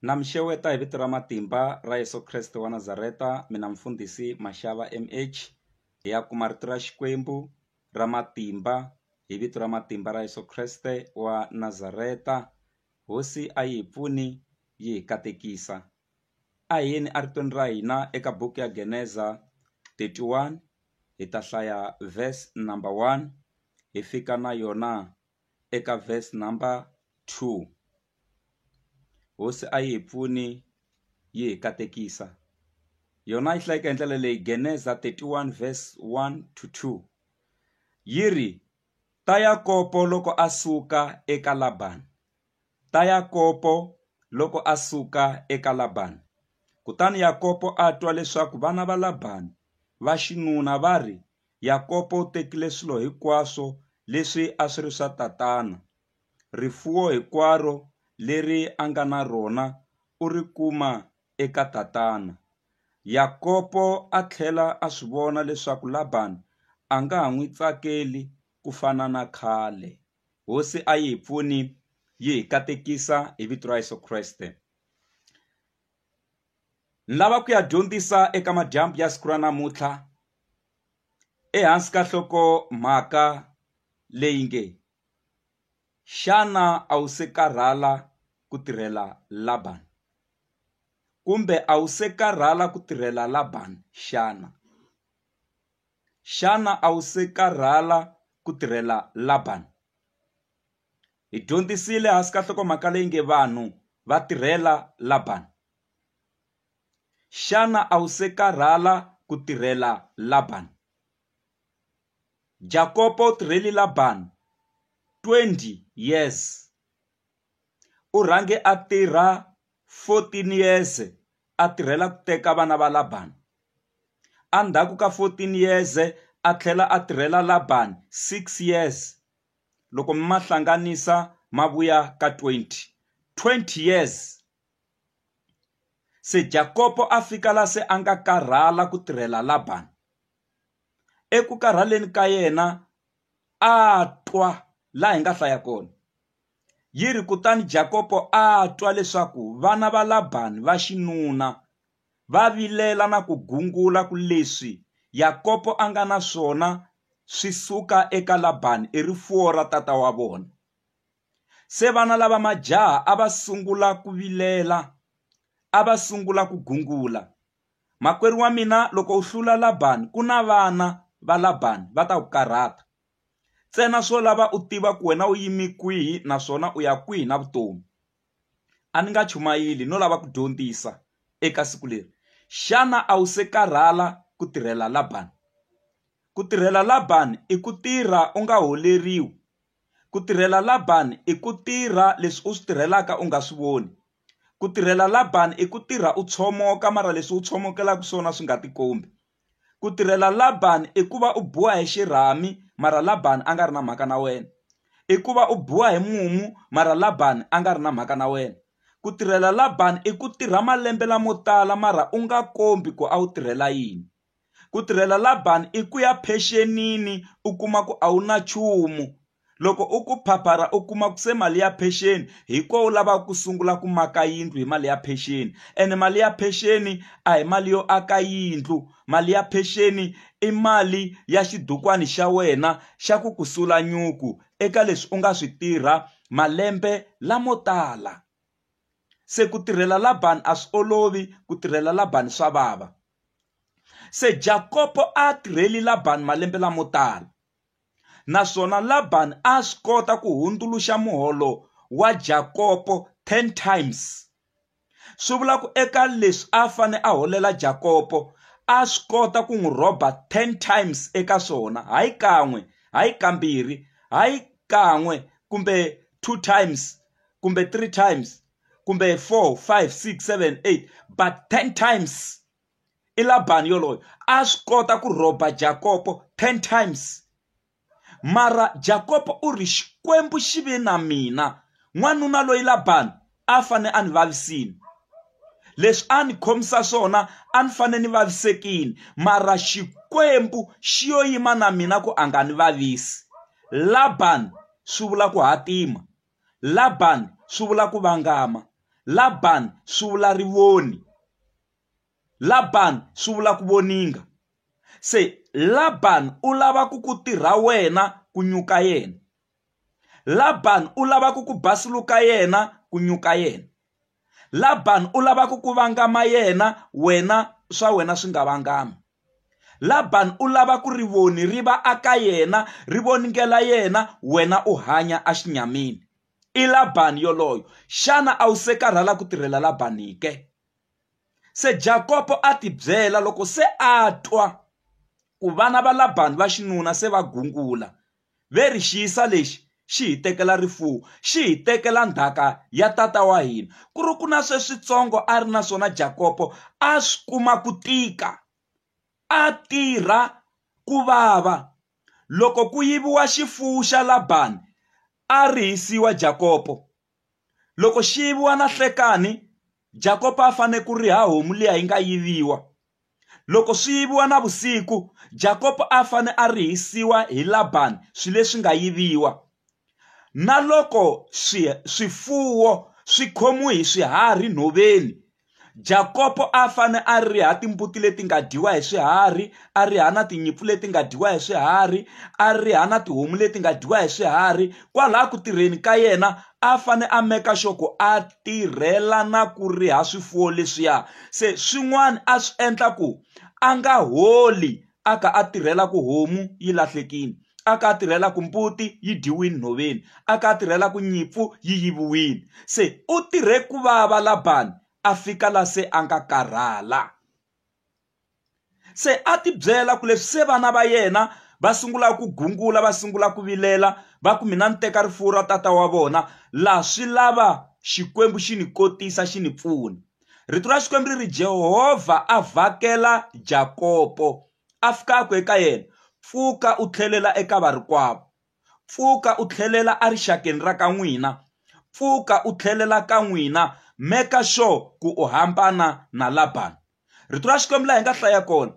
Na mi xeweta hi vito ra matimba ra Yeso Kreste wa Nazareta mina mfundhisi Mashava M_H hi ya kuma rito ra Xikwembu ra matimba hi vito ra matimba ra Yeso Kreste wa Nazareta hosi a yi hi pfuni yi hi katekisa a hi yeni eritweni ra hina eka buku ya geneza thirty one hi ta hlaya verse number one hi fika na yona. eka verse number two hosi a yi hi pfuni yi hi katekisa yona yi hlayeke hi ndlela leyi geneza 31 verse 1 to 2 yi ri ta yakopo loko a suka eka labani ta Yakobo loko a suka eka Labani. Kutani Yakobo a twa leswaku vana va Labani va xinuna va ri, Yakobo u tekile swilo hinkwaswo leswi a swi ri swa tatana, rifuwo hinkwaro leri a nga na rona u ri kuma eka tatana. Yakobo a tlhela a swi vona leswaku Labani a nga ha n'wi tsakeli ku fana na khale. Hosi a yi hi pfuni yi hi katekisa hi vito ra Yeso Kreste ni lava ku ya dyondzisa eka madyambu ya siku ra namuntlha ehansi ka nhloko mhaka leyi nge xana a wu se karhala ku tirhela Laban kumbe a wu se karhala ku tirhela Laban xana Xana a wu se karhala ku tirhela Laban? Hi dyondzisile hansi ka nhlokomhaka leyi nge Vanhu Va Tirhela Laban. Xana a wu se karhala ku tirhela Laban? Jakopo u tirheli Laban 20 years. U rhange a tirha 14 yeze a tirhela ku teka vana va Labani. Endzhaku ka 14 yeze a tlhela a tirhela Labani 6 yeze, loko mi ma hlanganisa ma vuya ka 20, 20 yeze. Se Jakopo a fika laha se a nga karhala ku tirhela Labani. Eku karhaleni ka yena a twa, laha hi nga hlaya kona. Yi ri kutani Jakopo a twa leswaku vana va Labani va xinuna va vilela na ku gungula ku leswi Yakopo a nga na swona swi suka eka Labani i rifuwo ra tata wa vona. Se vana lava majaha a va sungula ku vilela, a va sungula ku gungula, Makwerhu wa mina, loko u hlula Labani, ku na vana va Labani va ta ku karhata. Ntsena swo lava u tiva ku wena u yime kwihi naswona u ya kwihi na vutomi. A ni nga chumayeli no lava ku dyondzisa eka siku leri. Xana a wu se karhala ku tirhela Labani? Ku tirhela Labani i ku tirha u nga holeriwi. Ku tirhela Labani i ku tirha leswi u swi tirhelaka u nga swi voni. Ku tirhela Labani i ku tirha u tshomoka mara leswi u tshomokelaka swona swi nga tikombi. ku tirhela Laban i ku va u biwa hi xirhami mara Laban a nga ri na mhaka na wena i ku va u biwa hi mumu mara Laban a nga ri na mhaka na wena ku tirhela Laban i ku tirha malembe lamo tala mara u nga kombi ku a wu tirhela yini ku tirhela Laban i ku ya phenxenini u kuma ku a wu na nchumu. loko u ku phaphara u kuma ku se mali ya pension hi ko u lavaka ku sungula ku maka yindlu hi mali ya pension ene mali ya pension a hi mali yo aka yindlu mali ya pension i mali ya xibukwani xa wena xa ku ku sula nyuku eka leswi u nga swi tirha malembe lamo tala se ku tirhela la bangi a swi olovi ku tirhela la bangi swa vava se Jakopo a tirheli la bangi malembe lamo tala. naswona Laban a a swi kota ku hundzuluxa muholo wa Jakopo 10 times. Swi vula ku eka leswi a fane a holela Jakopo a swi kota ku n'wi rhoba 10 times eka swona, hayi kan'we, hayi kambirhi, hayi kan'we kumbe two times kumbe three times kumbe four, five, six, seven, eight but 10 times. i labani yoloye a swi kota ku rhoba jakopo 10 times mara jakopo u ri xikwembu xi ve na mina n'wanuna loyi labani a fane a ni vavisini leswi a ni khomisa swona a ni fane ni vavisekini mara xikwembu xi yo yima na mina ku a nga ni vavisi labani swi vula ku hatima labani swi vula ku vangama labani swi vula rivoni Laban swi vula ku voninga. Se Laban u lava ku ku tirha wena ku nyuka yena. Laban u lava ku ku basuluka yena ku nyuka yena. Laban u lava ku ku vangama yena wena swa wena swi nga vangami. Laban u lava ku rivoni ri va aka yena ri voningela yena wena u hanya a xinyamini. I Laban yoloyo. Xana a wu se karhala ku tirhela Laban ke? Se Jakopo a tibyela loko se a twa ku vana va Labani va xinuna se va gungula, ve ri, Xiyisa lexi xi hi tekela rifuwo, xi hi tekela ndhaka ya tata wa hina. Ku ri ku na sweswitsongo a ri na swona Jakopo a swi kuma ku tika, a tirha ku vava. Loko ku yiviwa xifuwo xa Labani a rihisiwa Jakopo. Loko xi yiviwa na hlekani Jakopa a fane ku riha homu liya yi nga yiviwa loko swi yiviwa na vusiku Jakopa a fane a rihisiwa hi Laban swi leswi nga yiviwa na loko swi swifuwo swi khomiwe hi swiharhi nhoveni Jakopo a fane a riha timbuti leti nga dyiwa hi swiharhi a riha na tinyimpfu leti nga dyiwa hi swiharhi a riha na tihomu leti nga dyiwa hi swiharhi kwalaha ku tirheni ka yena a fane a meka xoko a tirhela na ku riha swifuwo leswiya se swin'wana a swi endla ku a nga holi a kha a tirhela ku homu yi lahlekile a kha a tirhela ku mbuti yi dyiwile nhoveni a kha a tirhela ku nyimpfu yi yiviwile se u tirhe ku vava labani a fika la se a nga karhala se a ti byela ku leswi se vana va yena va sungula ku gungula va sungula ku vilela va ku mina ni teka rifuwo ra tata wa vona laha swi lava xikwembu xi ni kotisa xi ni pfuna rito ra xikwembu ri ri jehovha a vhakela jakopo a fika a ku eka yena pfuka u tlhelela eka varikwavo pfuka u tlhelela erixakeni ra ka n'wina pfuka u tlhelela ka n'wina meka sure ku u hambana na labani rito ra xikwembu laha hi nga hlaya kona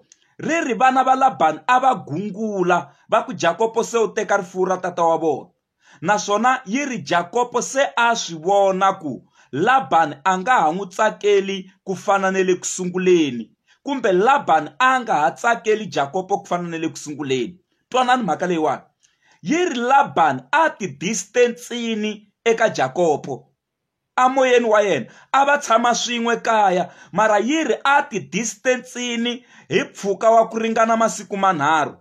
ri ri vana va labani a va gungula va ku jakopo se u teka rifuwo ra tata wa vona naswona yi ri Jakopo se a swi vona ku Laban a nga ha n'wi tsakeli ku fana ni le ku sunguleni, kumbe Laban a nga ha tsakeli Jakopo ku fana ni le ku sunguleni. Twanani mhaka leyiwani. Yi ri Laban a ti-distance-ini eka Jakopo. amoyeni wa yena a va tshama swin'we kaya mara yiri a ti distance-ini hi mpfhuka wa ku ringana masiku manharhu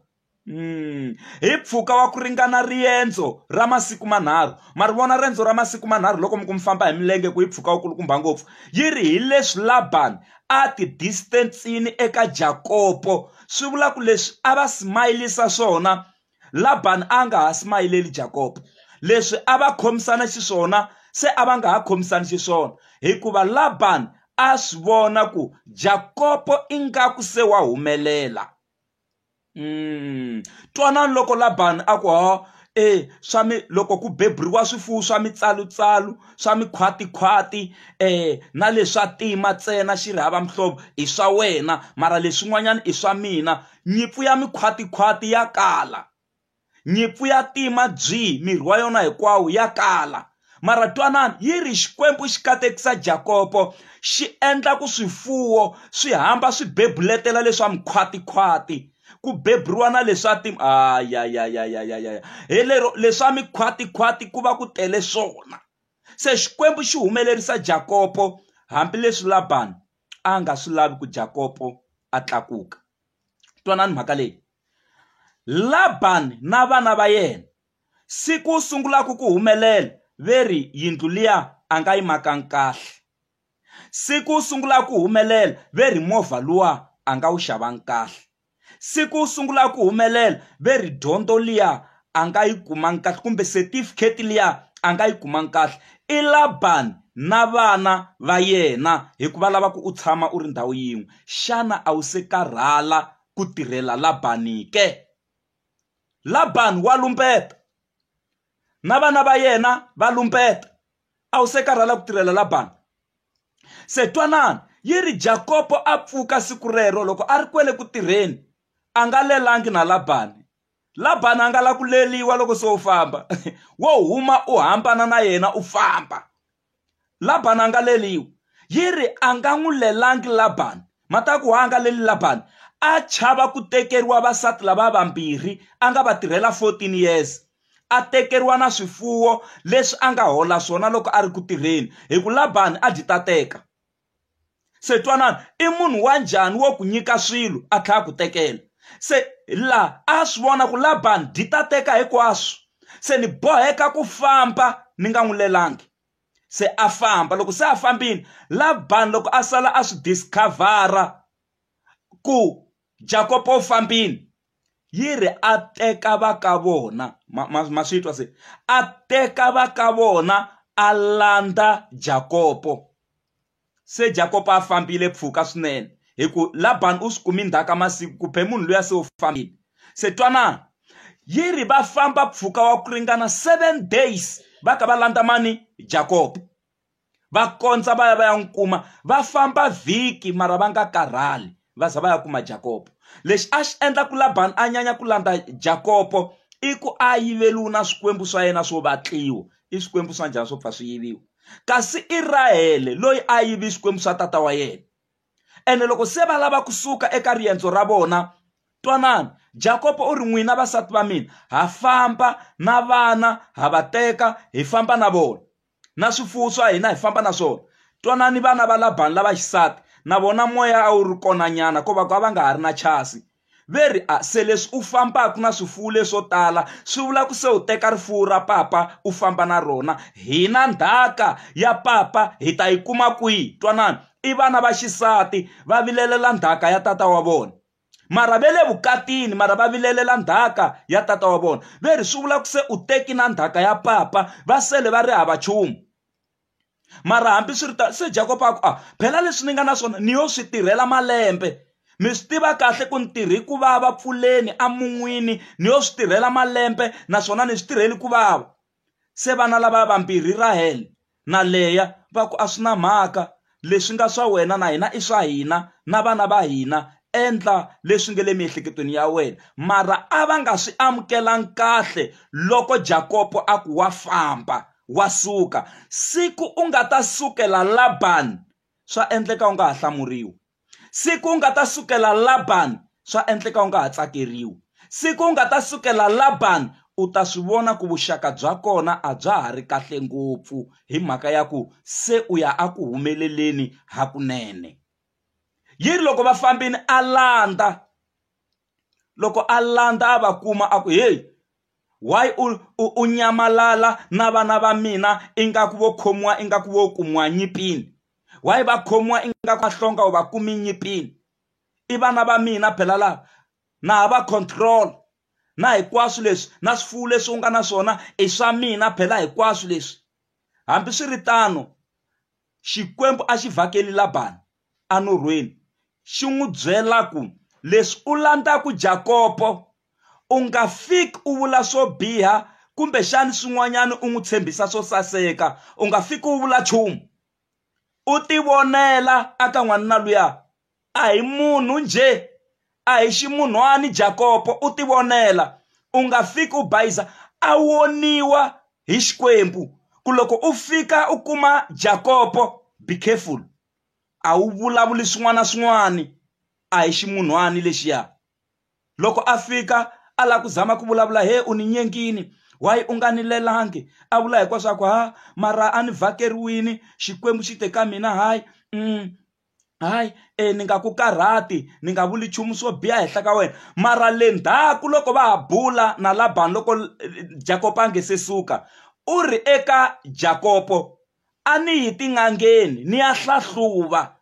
hmm. hi mpfhuka wa ku ringana riendzo ra masiku manharhu ma ri vona riendzo ra masiku manharhu loko mi ku mi famba hi milenge ku yi mpfhuka wu kulukumba ngopfu yi ri hi leswi laban a ti distance-ini eka jakopo swi vula ku leswi a va smayilisa swona Labani a nga ha smayileli Jakobo. Leswi a va khomisana xiswona se a va nga ha khomisani xiswona hikuva Labani a swi vona ku Jakobo ingaku se wa humelela. Mm. Twanani loko Labani a ku ho e swa mi loko ku beburiwa swifuwo swa mitsalutsalu swa mikhwatikhwati eh na leswa tima ntsena xi ri hava mihlovo i swa wena mara leswin'wanyana i swa mina Nyimpfu ya mikhwatikhwati ya kala. Nyimpfu ya tima byi, miri wa yona hinkwawo, ya kala. Mara twanani, yi ri, Xikwembu xi katekisa Jakopo, xi endla ku swifuwo swi hamba swi bebuletela leswa mikhwatikhwati, ku beburiwa na leswa ti. Ayayayayayaya! Hi lero leswa mikhwatikhwati ku va ku tele swona. Se Xikwembu xi humelerisa Jakopo, hambileswi Labani a nga swi lavi ku Jakopo a tlakuka. Twanani mhaka leyi. Labani na vana va yena siku sungulaka ku humelela ve ri yindlu liya a nga yi makanga kahle siku sungulaka ku humelela ve ri movha luwa a nga wu xavanga kahle Siku u sungula a ku humelela ve ri dyondzo liya a nga yi kumanga kahle kumbe certificate liya a nga yi kumanga kahle i Laban na vana va yena hikuva lava ku u tshama u ri ndhawu yin'we xana a wu se karhala ku tirhela Laban ke Laban wa lumbeta na vana va yena va lumbeta. a wu se karhala ku tirhela labani se twanani yi ri jakopo a pfuka siku rero loko a ri kwele ku tirheni a nga lelangi na labani labani a nga la ku leliwa loko se u famba wo huma u hambana na yena u famba labani a nga leliwa yi ri a nga n'wi lelangi labani mataku wa a nga leli labani a chava ku tekeriwa vasati lava vambirhi a nga va tirhela 14 years a tekeriwa na swifuwo leswi a nga hola swona loko a ri ku tirheni hi ku labani a byi ta teka se twanani i munhu wa njhani wo ku nyika swilo a tlhela ku tekela se laha a swi vona ku labani byi ta teka hinkwaswo se ni boheka ku famba ni nga n'wi lelangi se a famba loko se a fambile labani loko a sala a swi discover-a ku jakopo u fambile yi ri a teka va ka vona ma ma ma swi twa se a teka va ka vona a landza Jakopo se Jakopo a fambile mpfhuka swinene hi ku Laban u swi kumi ndzhaka masiku ku be munhu luya se u fambile se twana yi ri va famba mpfhuka wa ku ringana seven days va ka va landza mani Jakopo. va kondza va ya va ya n'wi kuma va famba vhiki mara va nga karhali va za va ya kuma jakopo lexi a xi endla ku labani a nyanya ku landza jakopo i ku a yiveliwi na swikwembu swa yena swo vatliwa i swikwembu swa njhani swo pfa swi yiviwa kasi i rahele loyi a yivi swikwembu swa tata wa yena ene loko se va lava kusuka eka riendzo ra vona twanani jakopo u ri n'wina vasati va mina ha famba na vana ha va teka hi famba na vona na swifuwo swa hina hi famba na swona twanani vana va labani lava xisati na vona moya a wu ri kona nyana ko va ku a va nga ha ri na chasi ve ri a se leswi u fambaka na swifuwo leswo tala swi vula ku se u teka rifuwo ra papa u famba na rona hina ndhaka ya papa hi ta yi kuma kwihi twanani i vana va xisati va vilelela ndhaka ya tata wa vona mara va le vukatini mara va vilelela ndzhaka ya tata wa vona ve ri swi vula ku se u teki na ndzhaka ya papa va sele va ri hava nchumu mara hambi swi ri ta se jakoba a ku a ah, phela leswi ni nga na swona ni yo swi tirhela malembe mi swi tiva kahle ku ni tirhi ku vava pfuleni emun'wini ni yo swi tirhela malembe naswona ni swi tirheli ku vava Se vana lavaya vambirhi Rahele na Leya va ku, A swi na mhaka, leswi nga swa wena na hina i swa hina na vana va hina, endla leswi nge le miehleketweni ya wena. Mara a va nga swi amukelanga kahle loko Jakopo a ku, Wa famba, wa suka. Siku u nga ta sukela Labani, swa endleka u nga ha hlamuriwi. siku u nga ta sukela labani swa endleka u nga ha tsakeriwi siku u nga ta sukela labani u ta swi vona ku vuxaka bya kona a bya ha ri kahle ngopfu hi mhaka ya ku se u ya a ku humeleleni hakunene yi ri loko va fambini a landza loko a landza a va kuma a ku heyi why u u, u nyamalala na vana va mina ingaku vo khomiwa ingaku vo kumiwa nyipini why va khomiwa ingaku va hlonga u va kumi nyipini i vana va mina phela lava na ha va control na hinkwaswo leswi na swifuwo leswi u nga na swona i swa mina phela hinkwaswo leswi hambiswiritano Xikwembu a xi vhakele Labani anorhweni, xi n'wi byela ku, Leswi u landzaku Jakopo, u nga fiki u vula swo biha kumbexani swin'wanyani u n'wi tshembisa swo saseka. U nga fiki u vula nchumu. U tivonela aka n'wanuna luya A hi munhu njhe, a hi ximunhwani Jakopo u tivonela, u nga fiki u bayiza a woniwa hi Xikwembu ku loko u fika u kuma Jakopo be careful a wu vulavuli swin'wana swin'wani a hi ximunhwani lexiya loko a fika a lava ku zama ku vulavula he u ni nyengini why u nga ni lelangi a vula hinkwaswaku ha mara a ni vhakeriwini Xikwembu xi te ka mina hayi . hayi e ni nga ku karhati ni nga vuli nchumu swo biha henhla ka wena mara le ndzhaku loko va ha bula na labani loko jakopo a nge se suka u ri eka jakopo a ni yi tin'angeni ni ya hlahluva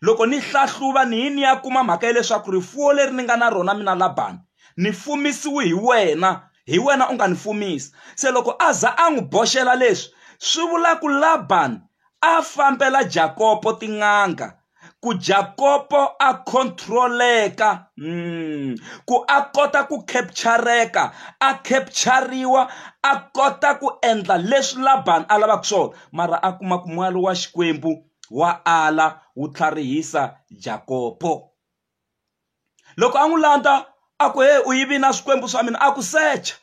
loko ni hlahluva ni yi ni ya kuma mhaka ya leswaku rifuwo leri ni nga na rona mina labani ni fumisiwe hi wena hi wena u nga ni fumisa se loko a za a n'wi boxela leswi swi vula ku labani a fambela Jakopo tin'anga ku Jakopo a controleka mm, ku a kota ku captureka a capturiwa a kota ku endla leswi Laban a lavaka swona mara a kuma ku n'wana wa Xikwembu wa ala wu tlharihisa Jakopo loko a n'wi landza a ku he u yivini na swikwembu swa mina a ku secha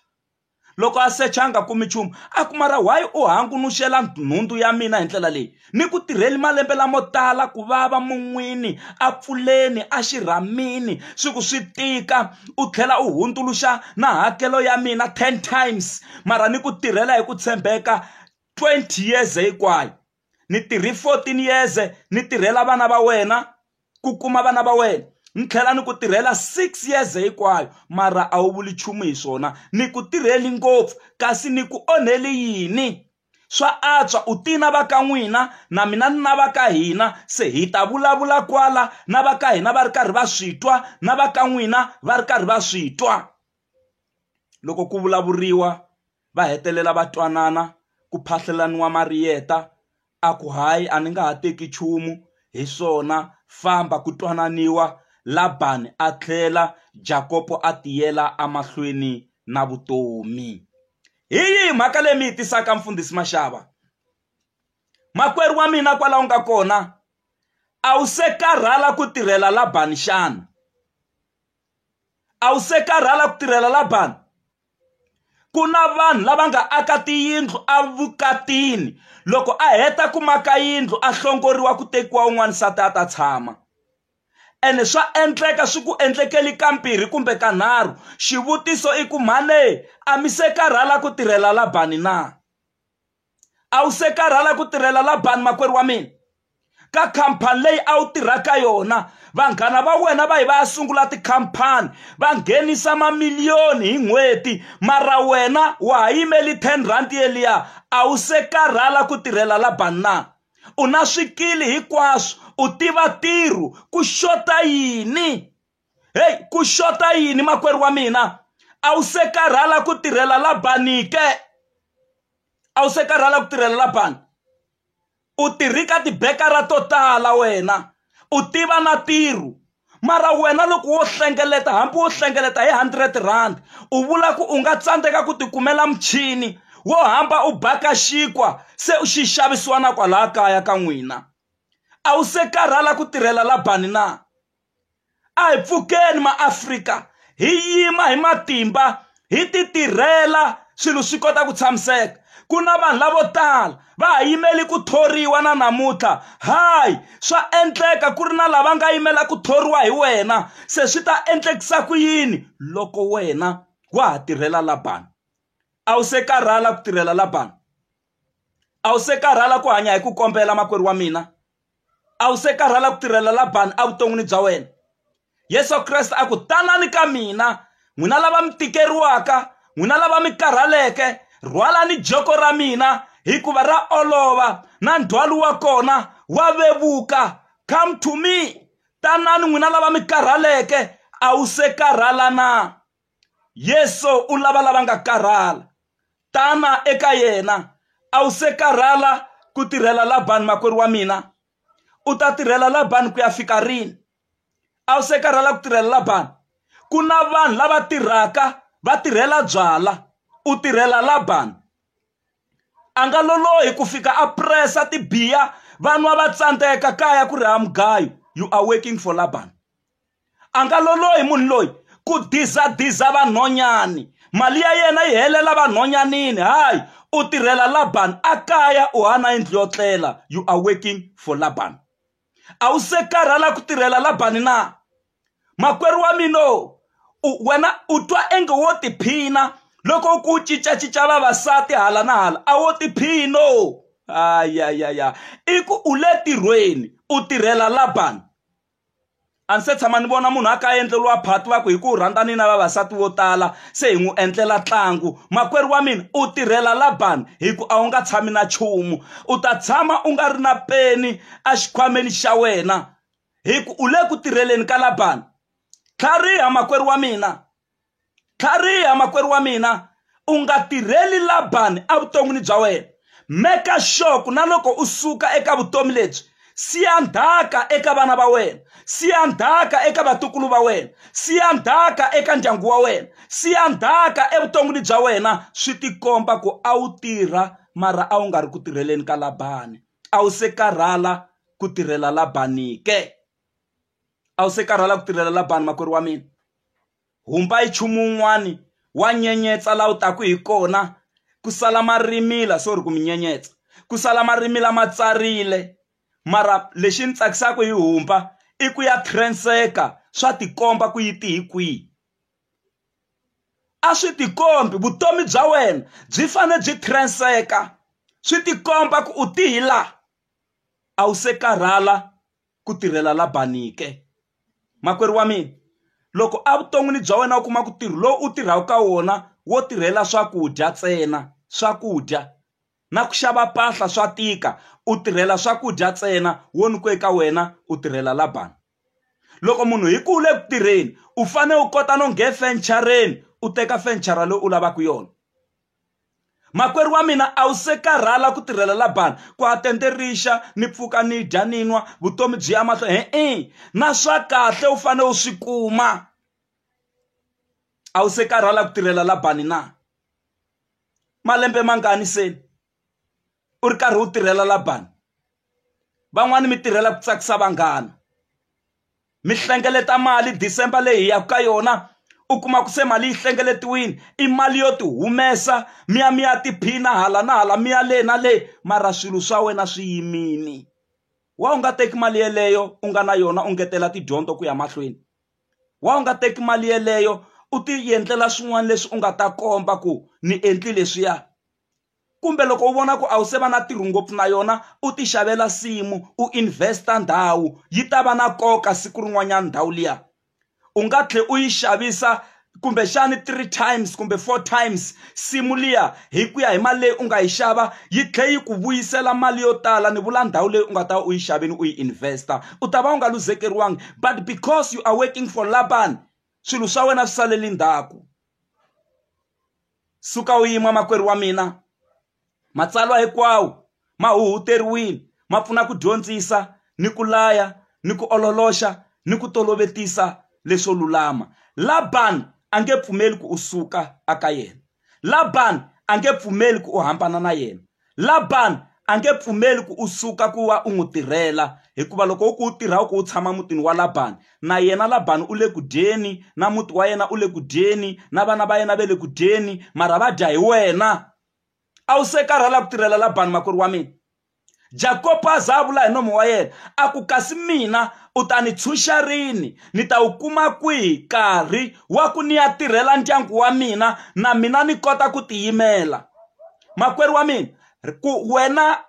loko a secha a nga kumi nchumu a ku mara why u hangunuxela nhundzu ya mina hi ndlela leyi ni ku tirheli malembe lamo tala ku vava mun'wini a pfuleni a xirhamini swi ku swi tika u tlhela u hundzuluxa na hakelo ya mina ten times mara ni ku tirhela hi ku tshembeka twenty years hinkwayo ni tirhi fourteen years ni tirhela vana va wena ku kuma vana va wena ni tlhela ni ku tirhela six years hinkwayo mara a wu vuli nchumu hi swona ni ku tirheli ngopfu kasi ni ku onheli yini swa antswa u tina va ka n'wina na mina ni na va ka hina se hi ta vulavula kwala na va ka hina va ri karhi va swi twa na va ka n'wina va ri karhi va swi twa loko ku vulavuriwa va hetelela va twanana ku phahlelaniwa mariyeta a ku hayi a ni nga ha teki nchumu hi swona famba ku twananiwa labani a tlhela jakopo a tiyela emahlweni na vutomi hi yihi mhaka leyi mi yi tisaka mfundhisi maxava makwerhu wa mina kwalaho nga kona a wu se karhala ku tirhela labani xana a wu se karhala ku tirhela labani ku na vanhu lava nga aka tiyindlu evukatini loko a heta ku maka yindlu a hlongoriwa ku tekiwa un'wana nsati a ta tshama ene swa endleka swi ku endlekeli ka mbirhi kumbe ka nharhu xivutiso i ku mhane a mi se karhala ku tirhela labani na a wu se karhala ku tirhela labani makwerhu wa mina ka khampani leyi a wu tirha ka yona vanghana va wena va yi va ya sungula tikhampani va nghenisa mamiliyoni hi n'hweti mara wena wa ha yimeli 10 rand yeliya a wu se karhala ku tirhela la banna u na swikili hinkwaswo u tiva ntirho ku xota yini heyi ku xota yini makwerhu wa mina a wu se karhala ku tirhela labani ke a wu se karhala ku tirhela labani u tirhi ka tibekara to tala wena u tiva na tirhu mara wena loko wo hlengeleta hambi wo hlengeleta hi hundred rand u vula ku u nga tsandzeka ku tikumela muchini wo hamba u baka xinkwa se u xi xavisiwa na kwalaya kaya ka n'wina a wu se karhala ku tirhela labani na a hi pfukeni maafrika hi yima hi matimba hi ti tirhela swilo swi kota ku tshamiseka ku na vanhu lavo tala va ha yimeli ku thoriwa na namuntlha hayi swa endleka ku ri na lava nga yimela ku thoriwa hi wena se swi ta endlekisa ku yini loko wena wa ha tirhela labani a wu se karhala ku tirhela labani a wu se karhala ku hanya hi ku kombela makwerhu wa mina a wu se karhala ku tirhela labani evuton'wini bya wena yesu kreste a ku tanani ka mina n'wina lava mi tikeriwaka n'wina lava mi karhaleke rhwalani joko ra mina hikuva ra olova na ndzhwalo wa kona wa vevuka come to me tanani n'wina lava mi karhaleke a wu se karhala na Yesu u lava lava nga karhala. Tana eka yena. A wu se karhala ku tirhela Labani makwerhu wa mina? U ta tirhela Labani ku ya fika rini? A wu se karhala ku tirhela Labani? Ku na vanhu lava tirhaka va tirhela byala, u tirhela Labani. A nga lolohi ku fika a presa tibiya vanwa va tsandzeka kaya ku ri ha mugayo you are working for Labani. a nga lolohi munhu loyi ku dizadiza vanhonyani mali ya yena yi helela vanhonyanini hayi u tirhela laban a kaya u hana yindlu yo tlela you are working for laban a wu se karhala ku tirhela labani na makwerhu wa mina wena u twa enge wo tiphina loko ku cincacinca vavasati hala na hala a wo tiphino ayayaya i ku u le tirhweni u tirhela labani a ndzi se tshama ni vona munhu a ka a endleriwa phati va ku hi ku rhandzani na vavasati vo tala se hi n'wi endlela ntlangu makwerhu wa mina u tirhela labani hi ku a wu nga tshami na nchumu u ta tshama u nga ri na peni exikhwameni xa wena hi ku u le ku tirheleni ka labani tlhariha makwerhu wa mina tlhariha makwerhu wa mina u nga tirheli labani evuton'wini bya wena meka sure ku na loko u suka eka vutomi lebyi siya ndhaka eka vana va wena siya ndhaka eka vatukulu va wena siya ndhaka eka ndyangu wa wena siya ndhaka evuton'wini bya wena swi tikomba ku a wu tirha mara a wu nga ri ku tirheleni ka labani a wu se karhala ku tirhela labani ke a wu se karhala ku tirhela labani makwerhu wa mina Humba hi nchumu wun'wana wa nyenyetsa laha wu taka hi kona ku sala ma rimila sorry ku mi nyenyetsa ku sala ma rimila ma tsarile mara lexi ni tsakisaka hi humba i ku ya transeka swa tikomba ku yi ti hi kwihi a swi tikombi vutomi bya wena byi fanele byi transeka swi tikomba ku u ti hi laha a wu se karhala. ku tirhela Labani ke? Makwerhu wa mina, loko evuton'wini bya wena u kuma ku ntirho lowu u tirhaka ka wona wo tirhela swakudya ntsena swakudya na ku xava mpahla swa tika u tirhela swakudya ntsena wo ni ku eka wena u tirhela Labani loko munhu hi ku u le ku tirheni u fanele u kota no nghe fencareni u teka fenchara loyi u lavaka yona makwerhu wa mina a wu se karhala ku tirhela labani ku a tende rixa ni pfuka ni dya ni nwa vutomi byi ya mahlo he-e na swa kahle u fanele u swi kuma a wu se karhala ku tirhela labani na malembe mangani se u ri karhi u tirhela labani van'wani mi tirhela ku tsakisa vanghana mi hlengeleta mali december leyi hi yaka ka yona u kuma ku se mali yi hlengeletiwile i mali yo ti humesa mi ya mi ya tiphina hala na hala mi ya le na le mara swilo swa wena swi yimini wa u nga teki mali yeleyo u nga na yona u ngetela tidyondzo ku ya mahlweni wa u nga teki mali yeleyo u ti endlela swin'wana leswi u nga ta komba ku ni endli leswiya kumbe loko u vona ku a wu se va na ntirho ngopfu na yona u ti xavela nsimu u invest-a ndhawu yi ta va na nkoka siku rin'wanyana ndhawu liya u nga tlhela u yi xavisa kumbexani three times kumbe four times nsimu liya hi ku ya hi mali leyi u nga yi xava yi tlhela yi ku vuyisela mali yo tala ni vula ndhawu leyi u nga ta va u yi xavini u yi invest-a u ta va u nga luzekeriwangi but because you are working for laban swilo swa wena swi saleli ndzhaku Suka u yima makwerhu wa mina. Matsalwa hinkwawo ma huhuteriwile ma pfuna ku dyondzisa ni ku laya ni ku ololoxa ni ku tolovetisa leswo lulama. Laban a nge pfumeli ku u suka aka yena. Laban a nge pfumeli ku u hambana na yena. Labani a nge pfumeli ku u suka ku va u n'wi tirhela, hikuva loko u ku u tirha u ku u tshama mutini wa Labani, na yena Labani u le ku dyeni, na muti wa yena u le ku dyeni, na vana va yena va le ku dyeni, mara va dya hi wena. A wu se karhala ku tirhela Labani makwerhu wa mina? Jakopo a za a vula hi nomo wa yena, a ku, Kasi mina u ta ni tshunxa rini? Ni ta wu kuma kwihi nkarhi wa ku ni ya tirhela ndyangu wa mina, na mina ni kota ku tiyimela? makwerhu wa mina ku wena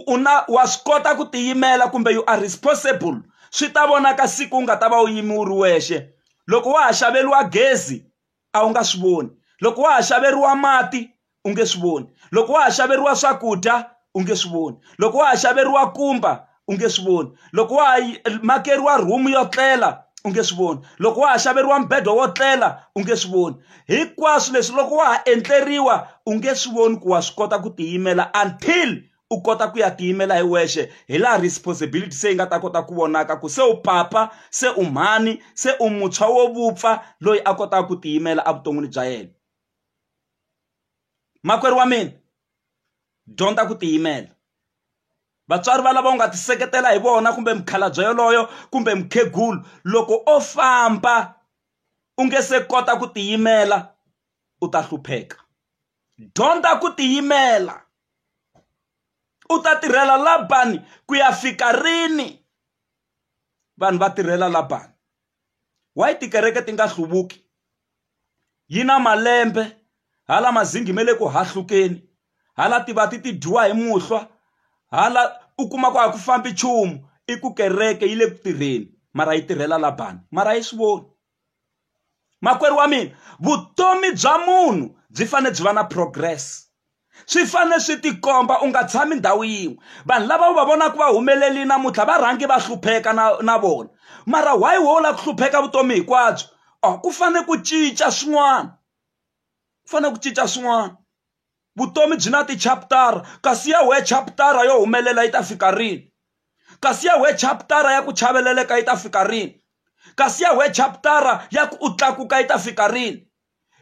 u na wa swi kota ku tiyimela kumbe you are responsible swi ta vonaka siku u nga ta va u yimi u ri wexe loko wa ha xaveriwa gezi a wu nga swi voni loko wa ha xaveriwa mati u nge swi voni loko wa ha xaveriwa swakudya u nge swi voni loko wa ha xaveriwa kumba u nge swi voni loko wa ha makeriwa rhumu yo tlela u nge swi voni loko wa ha xaveriwa mbedo wo tlela u nge swi voni hinkwaswo leswi loko wa ha endleriwa u nge swi voni ku wa swi kota ku tiyimela until u kota ku ya tiyimela hi wexe hi laha responsibility se yi nga ta kota ku vonaka ku se u papa se u mhani se u mutshwa wo vupfa loyi a kotaka ku tiyimela evuton'wini bya yena makwerhu wa mina dyondza ku tiyimela vatswari va lava u nga tiseketela hi vona kumbe mukhalabye yoloyo kumbe mukhegulu loko o famba u nge se kota ku tiyimela u ta hlupheka dyondza ku tiyimela u ta tirhela labani ku ya fika rini vanhu va tirhela labani why tikereke ti nga hluvuki yi na malembe hala mazingi me le ku hahlukeni hala tivati ti dyiwa hi muhlwa hala u kuma ku a ku fambi nchumu i ku kereke yi le ku tirheni mara yi tirhela labani mara yi swi voni makwerhu wa mina vutomi bya munhu byi fanele byi va na progress swi fanele swi tikomba u nga tshami ndhawu yin'we vanhu lava u va vonaka va humeleli namuntlha va rhangi va hlupheka na na vona mara why wo lava ku hlupheka vutomi hinkwabyo o oh, ku fanele ku cinca swin'wana ku fanele ku cinca swin'wana vutomi byi na tichaputara kasi ya we chaputara yo humelela yi ta fika rini kasi ya we chaputara ya ku chaveleleka yi ta fika rini kasi ya we chaputara ya ku u tlakuka yi ta fika rini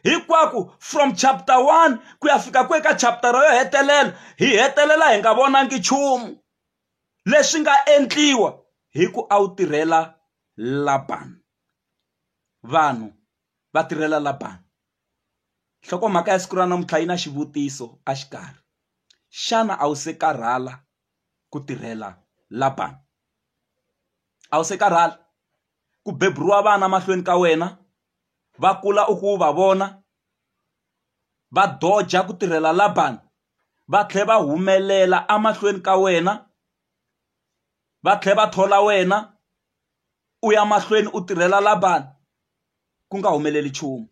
hinkwaku from chapter one ku ya fika ku eka chapter yo hetelela hi hetelela hi nga vonangi nchumu leswi nga endliwa hi ku a wu tirhela labani vanhu va tirhela labani nhlokomhaka ya siku ra namuntlha yi na xivutiso a xikarhi xana a wu se karhala ku tirhela labani a wu se karhala ku beburiwa vana mahlweni ka wena va kula u ku va vona va doja ku tirhela labani va tlhela va humelela emahlweni ka wena va tlhela va thola wena u ya mahlweni u tirhela labani ku nga humeleli nchumu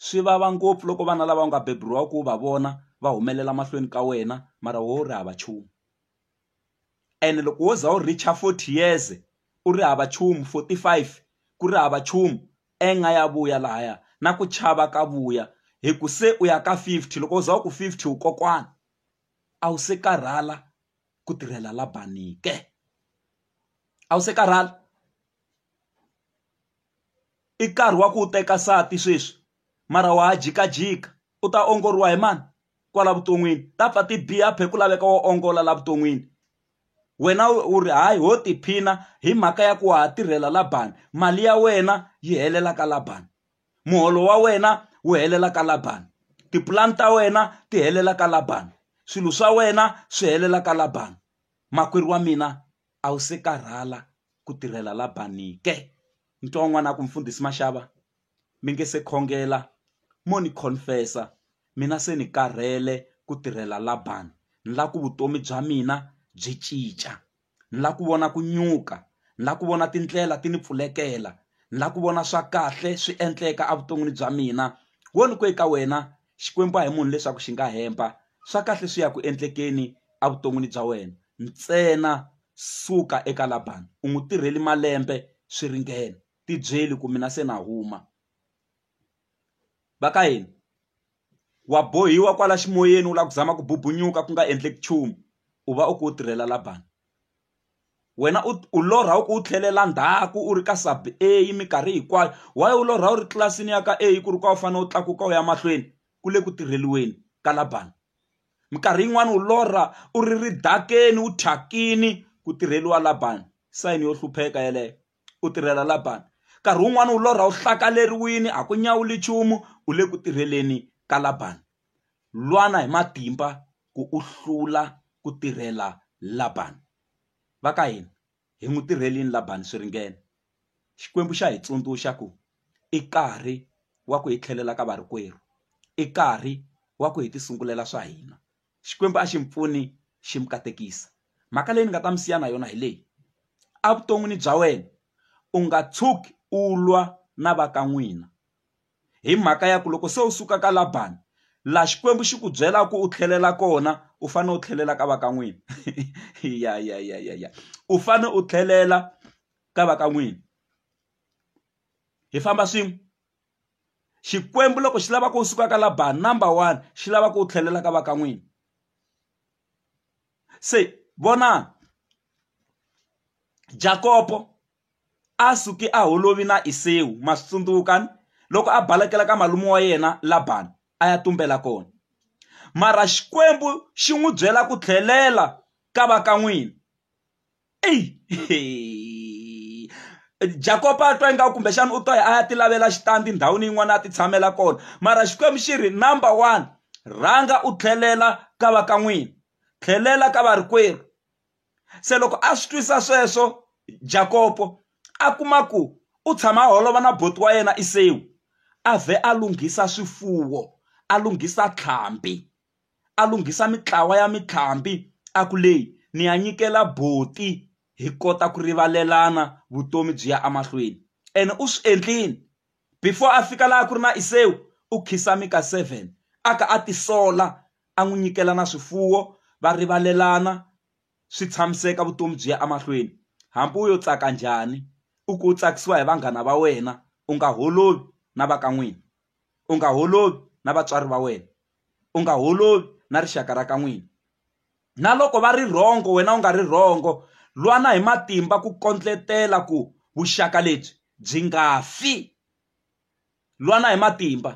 swi vava ngopfu loko vana lava nga beburiwa ku va vona va humelela mahlweni ka wena mara wo ri hava nchumu. ene loko wo za u reach-a forty years u ri hava nchumu forty five ku ri hava nchumu anger ya vuya lahaya na ku chava ka vuya hi ku se u ya ka fifty loko u za u ku fifty u kokwana a wu se karhala ku tirhela la bangi ke a wu se karhala i nkarhi wa ku u teka nsati sweswi. mara wa ha jikajika u ta ongoriwa hi mani kwala vuton'wini ta pfa ti biha phe ku laveka wo ongola la vuton'wini wena u ri hayi ho tiphina hi mhaka ya ku wa ha tirhela labani mali ya wena yi helela ka labani muholo wa wena wu helela ka labani tipulani ta wena ti helela ka labani swilo swa wena swi helela ka labani makwerhu wa mina a wu se karhala ku tirhela labani ke ni twa un'wana a ku mfundhisi maxava mi nge se khongela mo ni confess-a mina se ni karhele ku tirhela Laban ni la ku vutomi bya mina byi cinca ni la ku vona ku nyuka ni la ku vona tindlela ti ni pfulekela ni la ku vona swa kahle swi endleka evuton'wini bya mina wo ni ku eka wena Xikwembu a hi munhu leswaku xi nga hemba swa kahle swi ya ku endlekeni evuton'wini bya wena ntsena suka eka Laban u n'wi tirheli malembe swi ringene. tibyeli ku mina se na huma va ka hina wa bohiwa kwala ximoyeni u lava ku zama ku bubunyuka ku nga endleki nchumu u va u ku u tirhela labani wena u u lorha u ku u tlhelela ndzhaku u ri ka sub a minkarhi hinkwayo why u lorha u ri tlilasini ya ka a ku ri ka u fanele u tlakuka u ya mahlweni ku le ku tirheliweni ka labani minkarhi yin'wani u lorha u ri ridakeni u thyakini ku tirheliwa labani sayini yo hlupheka yeleyo u tirhela Labani. Nkarhi wun'wana u lorha u hlakaleriwile, a ku nyawuli nchumu, u le ku tirheleni ka Labani. Lwana hi matimba ku u hlula ku tirhela Labani. Va ka hina, hi n'wi tirhelini Labani swi ringene? Xikwembu xa hi tsundzuxa ku i nkarhi wa ku hi tlhelela ka varikwerhu, i nkarhi wa ku hi tisungulela swa hina. xikwembu a xi mi pfuni xi mi katekisa mhaka leyi ni nga ta mi siya na yona hi leyi a vuton'wini bya wena u nga tshuki u lwa na va ka n'wina hi mhaka ya ku loko se u suka ka labani la xikwembu xi ku byela ku u tlhelela kona u fane u tlhelela ka va ka n'wina ya ya ya ya ya u fane u tlhelela ka va ka n'wina hi famba swin'we xikwembu loko xi lava ku u suka ka labaha number one xi lava ku u tlhelela ka va ka n'wini se vona jakopo a suki a holovi na isewu ma swi tsundzukani loko a balekela ka malume wa yena labani a ya tumbela kona mara xikwembu xi n'wi byela ku tlhelela ka va ka n'wini jakopa a twa ingaku kumbexana u to ya a ya ti lavela xitandi ndhawini yin'wana a ti tshamela kona mara xikwembu xi ri number one rhanga u tlhelela ka va ka n'wina tlhelela ka varikwerhu se loko a swi twisa sweswo jakopo a kuma ku u tshama holova na boti wa yena isewu a vhe a lunghisa swifuwo a lunghisa tlhambi a lunghisa mintlawa ya mitlhambi a ku leyi ni ya nyikela buti hi kota ku rivalelana vutomi byi ya emahlweni ene u swi endlile before a fika laha ku ri na Iseu u khisa Mika seven a ka a tisola a n'wi nyikela na swifuwo va rivalelana swi tshamiseka vutomi byi ya emahlweni hambi u yo tsaka njhani u ku u tsakisiwa hi vanghana va wena u nga holovi na va ka n'wina u nga holovi na vatswari va wena. u nga holovi na rixaka ra ka n'wina na loko va ri rhongo wena u nga ri rhongo lwana hi matimba ku kondletela ku vuxaka lebyi byi nga fi lwana hi matimba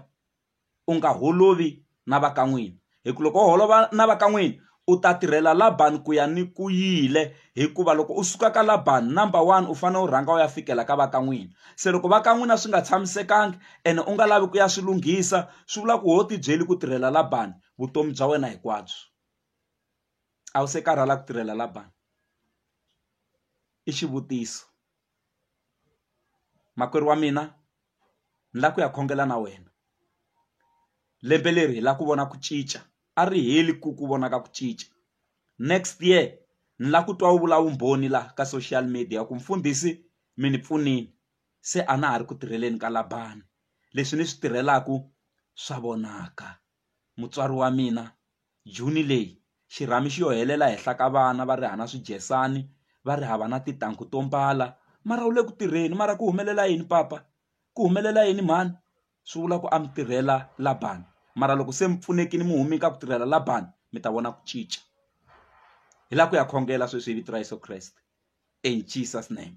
u nga holovi na va ka n'wina hi ku loko u holova na va ka n'wina u ta tirhela Laban ku ya ni ku yile hikuva loko u suka ka Laban number one u fanele u rhanga u ya fikela ka va ka n'wina se loko va ka n'wina swi nga tshamisekangi ene u nga lavi ku ya swi lunghisa swi vula ku ho ti byeli ku tirhela Laban vutomi bya wena hinkwabyo a wu se karhala ku tirhela Laban i xivutiso. makwerhu wa mina ni lava ku ya khongela na wena lembe leri hi lava ku vona ku cinca a ri heli ku ku vona ka ku cinca next year ni lava ku twa u vula vumbhoni laha ka social media ku mfundhisi mi ni pfunile se a na ha ri ku tirheleni ka Laban leswi ni swi tirhelaku swa vonaka mutswari wa mina Juni leyi, xirhami xi yo helela henhla ka vana va ri hava na swidyesani, va ri hava na titanghu to mbala. Mara u le ku tirheni. Mara ku humelela yini papa? Ku humelela yini mhani? Swi vula ku a mi tirhela Laban. Mara loko se mi pfunekile mi humile ka ku tirhela Laban, mi ta vona ku cinca. Hi laha ku ya khongela sweswi hi vito ra Yeso Kreste. In Jesus name.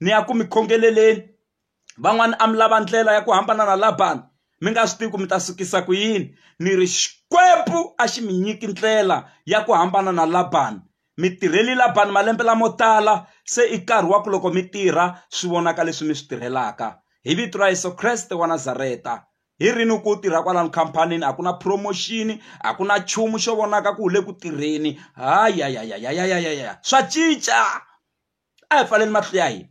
ni ya ku mi khongeleleni van'wana a mi lava ndlela ya ku hambana na labani mi nga swi tivi ku mi ta sukisa ku yini ni ri xikwembu a xi mi nyiki ndlela ya ku hambana na labani mi tirheli labani malembe lamo tala se i nkarhi wa ku loko mi tirha swi vonaka leswi mi swi tirhelaka hi vito ra yesu kreste wa nazareta hi rini ku tirha kwalano khampanini a ku na promotion a ku na nchumu xo vonaka ku wu le ku tirheni hayayayayayayaya swa cinca a hi pfaleli matihlo ya hina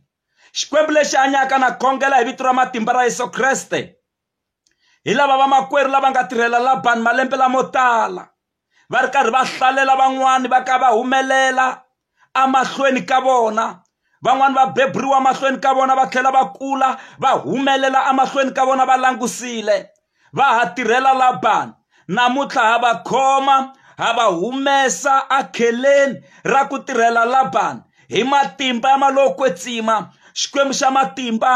xikwembu lexi hanyaka na khongela hi vito ra matimba ra yesu kreste hi lava vamakwerhu lava nga tirhela labani malembe lamo tala va ri karhi va hlalela van'wani va ka va humelela emahlweni ka vona van'wani va beburiwa emahlweni ka vona va tlhela va kula va humelela emahlweni ka vona va langusile va ha tirhela labani namuntlha ha va khoma ha va humesa akheleni ra ku tirhela labani hi matimba ya malokwetsima xikwembu xa matimba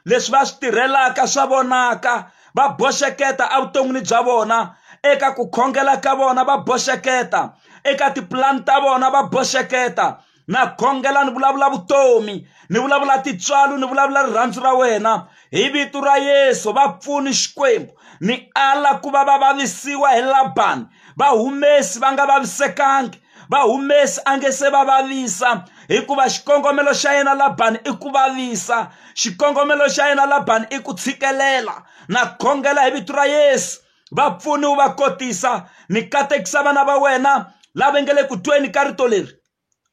leswi va swi tirhelaka swa vonaka va boxeketa evuton'wini bya vona eka ku khongela ka vona va boxeketa eka tipulani ta vona va boxeketa na khongela ni vulavula vutomi ni vulavula titswalo ni vulavula rirhandzu ra wena hi vito ra yesu va pfuni xikwembu ni ala ku va va vavisiwa hi labani va humesi va nga vavisekangi va humesi a nge se va vavisa hikuva xikongomelo xa yena labani i ku vavisa xikongomelo xa yena labani i ku tshikelela na khongela hi vito ra yesu va pfuni wu va kotisa ni katekisa vana va wena lava nge le ku tweni ka rito leri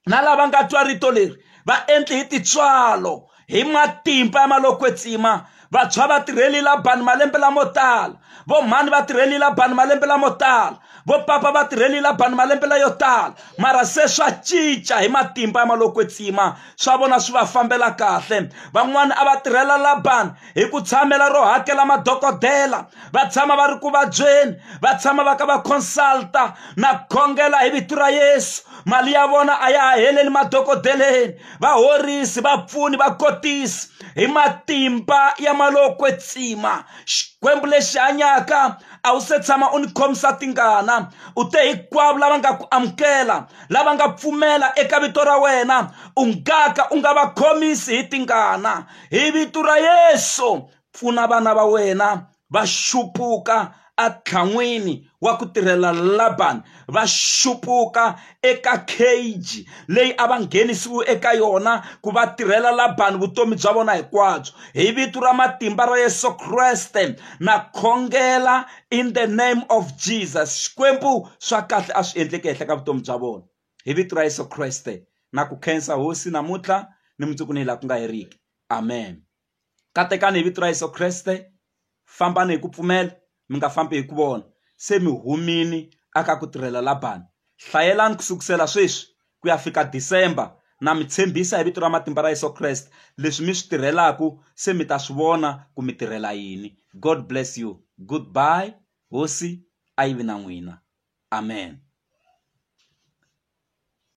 na lava nga twa rito leri va endli hi titswalo hi matimba ya malokwetsima vantshwa va tirheli labani malembe lamo tala vo mhani va tirheli labani malembe lamo tala vo papa va tirheli labani malembe layo tala mara se swa cinca hi matimba ya malokwetsima swa vona swi va fambela kahle van'wani a va tirhela labani hi ku tshamela ro hakela madokodela va tshama va ri ku vabyeni va tshama va ka va consulta na khongela hi vito ra yesu mali ya vona a ya ha heleli madokodeleni va horisi va pfuni va kotisi hi matimba ya malokwetsima xikwembu lexi hanyaka a wu se tshama u ni khomisa tingana u te hinkwavo lava nga ku amukela lava nga pfumela eka vito ra wena u nga ka u nga va khomisi hi tingana hi vito ra yesu pfuna vana va wena va xupuka atlhan'wini wa ku tirhela labani va xupuka eka cage leyi a va nghenisiwe eka yona ku va tirhela labani vutomi bya vona hinkwabyo hi vito ra matimba ra yesu kreste na khongela in the name of jesus xikwembu swa kahle a swi endleke henhla ka vutomi bya vona hi vito ra yesu kreste na ku khensa hosi namuntlha ni mundzuku ni laha ku nga heriki amen katekani hi vito ra yesu kreste fambani hi ku pfumela mi nga fambi hi ku vona se mi humini aka ku tirhela labani hlayelani ku sukusela sweswi ku ya fika December na mi tshembisa hi vito ra matimba ra Yeso Kreste leswi mi swi tirhelaku se mi ta swi vona ku mi tirhela yini God bless you good bye hosi a yi vi na n'wina amen.